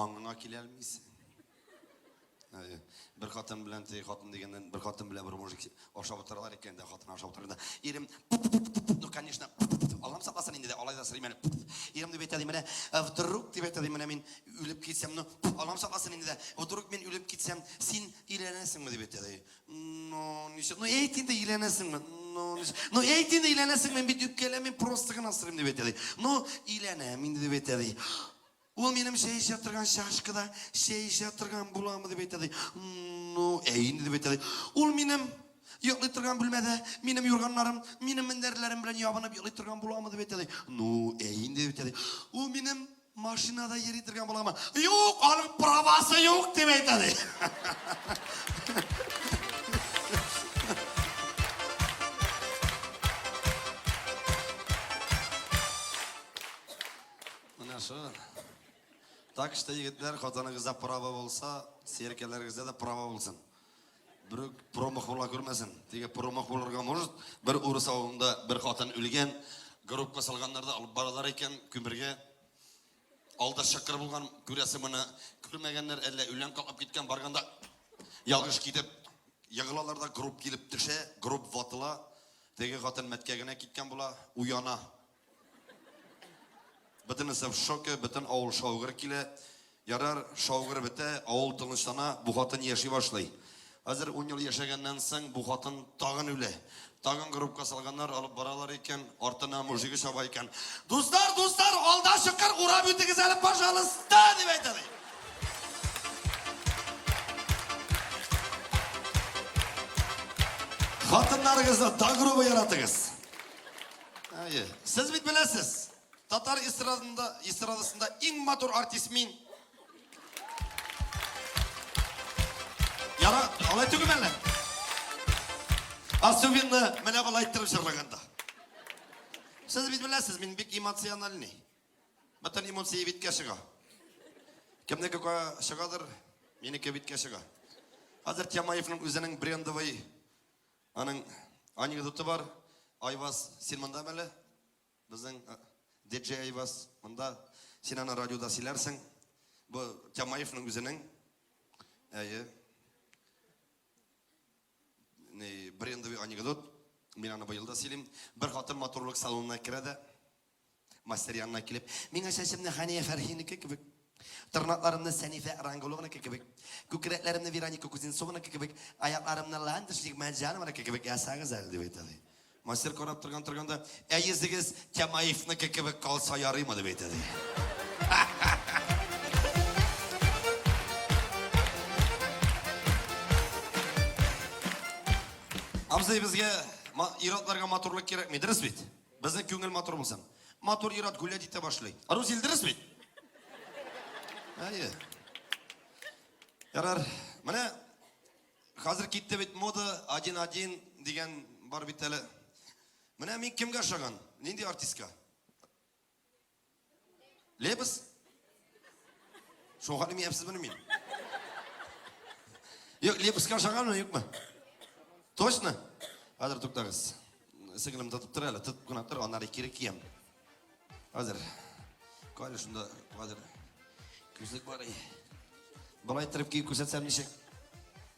Аңына киләлмисең. Әйе. Бер хатын белән теге хатын дигәннән бер хатын белән бер мужик ашап утыралар икән дә хатын ашап утырганда ирем ну конечно алам сакласын инде дә алай да сорыйм әле ирем дип әйтә ди менә вдруг дип әйтә ди менә мин үлеп китсәм ну алам сакласын инде дә вдруг мин үлеп китсәм син өйләнәсеңме дип әйтә ди ну ничек ну әйт инде өйләнәсеңме ну ну әйт инде өйләнәсеңме мин бит үпкәләмим просто гына сорыйм дип әйтә ди ну өйләнәм инде дип әйтә ди Ул минем чәй эчә торган чашкада чәй эчә торган буламы дип әйтә ди. Ну, әй инде дип әйтә ди. Ул минем йоклый торган бүлмәдә минем юрганнарым, минем мендәрләрем белән ябынып йоклый торган буламы дип әйтә ди. Ну, әй инде дип әйтә ди. Ул минем машинада йөри торган буламы? Юк, аның правасы юк дип әйтә ди. Менә шу. Так что, егетләр, хатыныгызда право булса, серкәләрегездә дә право булсын. Бер промах була күрмәсен. Теге промах булырга может, бер урыс авылында бер хатын үлгән, группка салганнар да алып баралар икән күмергә. Алда шыкыр булган, күрәсе моны күрмәгәннәр, әллә үлән калып киткән барганда ялгыш китеп егылалар да групп килеп төшә, групп ватыла. Теге хатын мәткә генә киткән була, уяна. Бөтенесе в шоке, бөтен авыл шаугыр килә. Ярар, шаугыр бетә, авыл тынычлана, бу хатын яши башлый. Хәзер ун ел яшәгәннән соң бу хатын тагын үлә. Тагын группка салганнар, алып баралар икән, артына мужиге чаба икән. Дуслар, дуслар, алда чокыр урап үтегез әле, пожалуйста, дип әйтә ди. Хатыннарыгызны да грубо яратыгыз. Әйе. Сез бит беләсез, татар эстрадында, эстрадасында иң матур артист мин. Яра, алай түгел әле. Особенно менә алай иттереп җырлаганда. Сез бит беләсез, мин бик эмоциональный. Бөтен эмоция биткә чыга. Кемнеке чыгадыр, минеке биткә чыга. Хәзер Тямаевның үзенең брендовый Аның анекдоты бар. Айваз, син мондамы әле? Безнең диджей Айваз монда. Син аны радиода сөйләрсең. Бу Тямаевның үзенең. Әйе. Ни, брендовый анекдот. Мин аны быел да сөйлим. Бер хатын матурлык салонына керә дә, Мастер янына килеп, миңа чәчемне Хәния Фәрхинеке кебек, тырнакларымны Сәнифә Рангулованыке кебек, күкрәкләремне Вероника Кузнецованыке кебек, аякларымны Ландыш Нигмәтҗанованыке кебек ясагыз әле, дип әйтә ди. Мастер карап торган торганда, ә йөзегез Тямаевныкы кебек калса ярыймы, дип әйтә ди. Абзый, безгә ир-атларга матурлык кирәкми, дөрес бит? Безнең күңел матур булсын. Матур ир-ат гүлләп җитә башлый. Рус Илдрис бит. Әйе. Ярар. Менә хәзер китте бит мода 1-1 дигән бар бит әле. Менә мин кемгә ошаган? Нинди артистка? Лебез? Шуңа имәпсез мени мин? Юк, лебезгә ошаганмы, юкмы? Точно? Хәзер туктагыз. Сеңлем тотып тор әле, тотып кына тор, аннары кире киям. Хәзер. Кайлы шунда хәзер. Күзлек бар. Болай торып киеп күрсәтсәм ничек?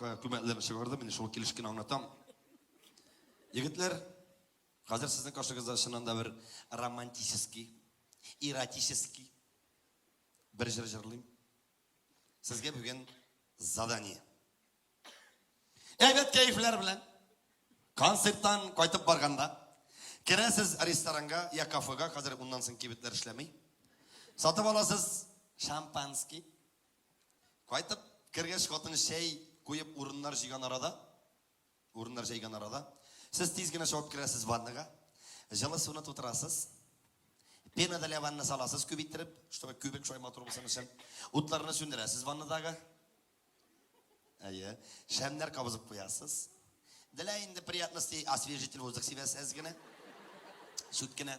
Күмәкләрне чыгардым, менә шул килеш кенә аңлатам. Егетләр, хәзер сезнең каршыгызда чыннан да бер романтический, эротический бер җыр җырлыйм. Сезгә бүген задание. Әйбәт кәефләр белән концерттан кайтып барганда керәсез ресторанга я кафега, хәзер уннан соң кибетләр эшләми. Сатып аласыз шампанский. Кайтып кергәч, хатыны чәй куеп урыннар җыйган арада, урыннар җәйгән арада, сез тиз генә чабып керәсез ваннага, җылы суны тутырасыз, пена для ванны саласыз күп иттереп, чтобы күбек шулай матур булсын өчен. Утларны сүндерәсез ваннадагы. Әйе, шәмнәр кабызып куясыз. Для инде приятности освежитель воздух сибәсез генә. Чүткенә.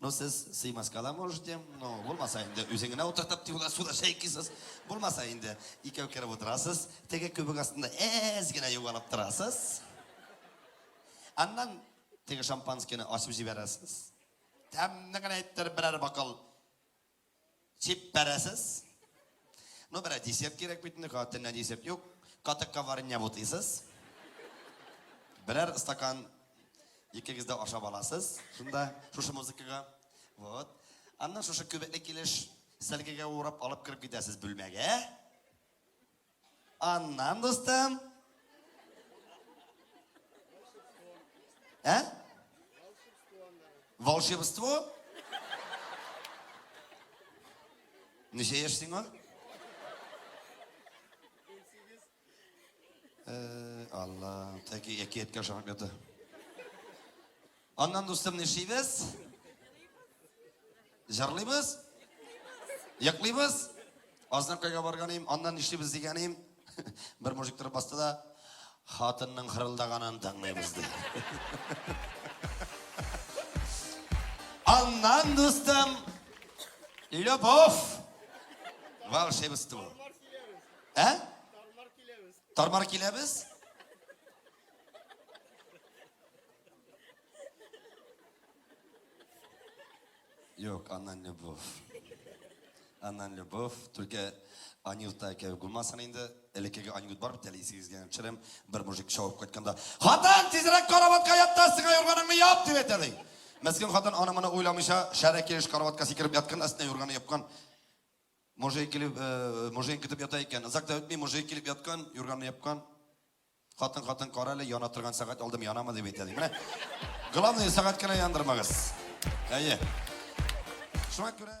Ну, сез сыймаска да можете, ну, булмаса инде, үзең генә утыртып тиюлар суда шәйкисез. Булмаса инде, икәү кереп утырасыз, теге көбек астында әз генә югалып торасыз. Аннан теге шампанскийны асып җибәрәсез. Тәмне генә иттереп берәр бокал Чиппәрәсез. Ну, берә дисеп кирәк бит инде, катеннән дисеп юк. Катыкка варенья бутыйсыз. Берәр стакан икегез дә ашап аласыз. Шунда шушы музыкага. Вот. Аннан шушы күбекле килеш сәлгегә урап алып кереп китәсез бүлмәгә. Аннан, дустым. Ә? Волшебство? Ничә яшь сиңа? Э, Алла, тәки әкияткә ошамап ята. Аннан, дустым, нишибез? Җырлыйбыз? Йоклыйбыз? Азнакайга барганым, аннан нишлибез дигәнем, бер мужик торып басты да, хатынның хырылдаганын тыңлыйбыз ди. Аннан, дустым, любовь, волшебство. Ә? Тормар киләбез. Юк, аннан любовь. Аннан любовь. Только Анюта кебек булмасын инде. Элеккеге Анют бар бит әле исегезгә төшерәм. Бер мужик шауып кайтканда, "Хатын, тизрәк караватка ятта, сиңа юрганыңны яп", дип әйтә ди. Мәскин хатын аны моны уйламыйча, шәрә килеш караватка сикереп яткан, астына юрганы япкан. Мужик килеп, э, мужик көтеп ята икән. Озак та үтми, мужик килеп яткан, юрганны япкан. Хатын, хатын, кара әле, яна торган сәгать алдым, янамы дип әйтә, ди. Менә, главное, сәгать кенә яндырмагыз. Әйе. Шуңа күрә...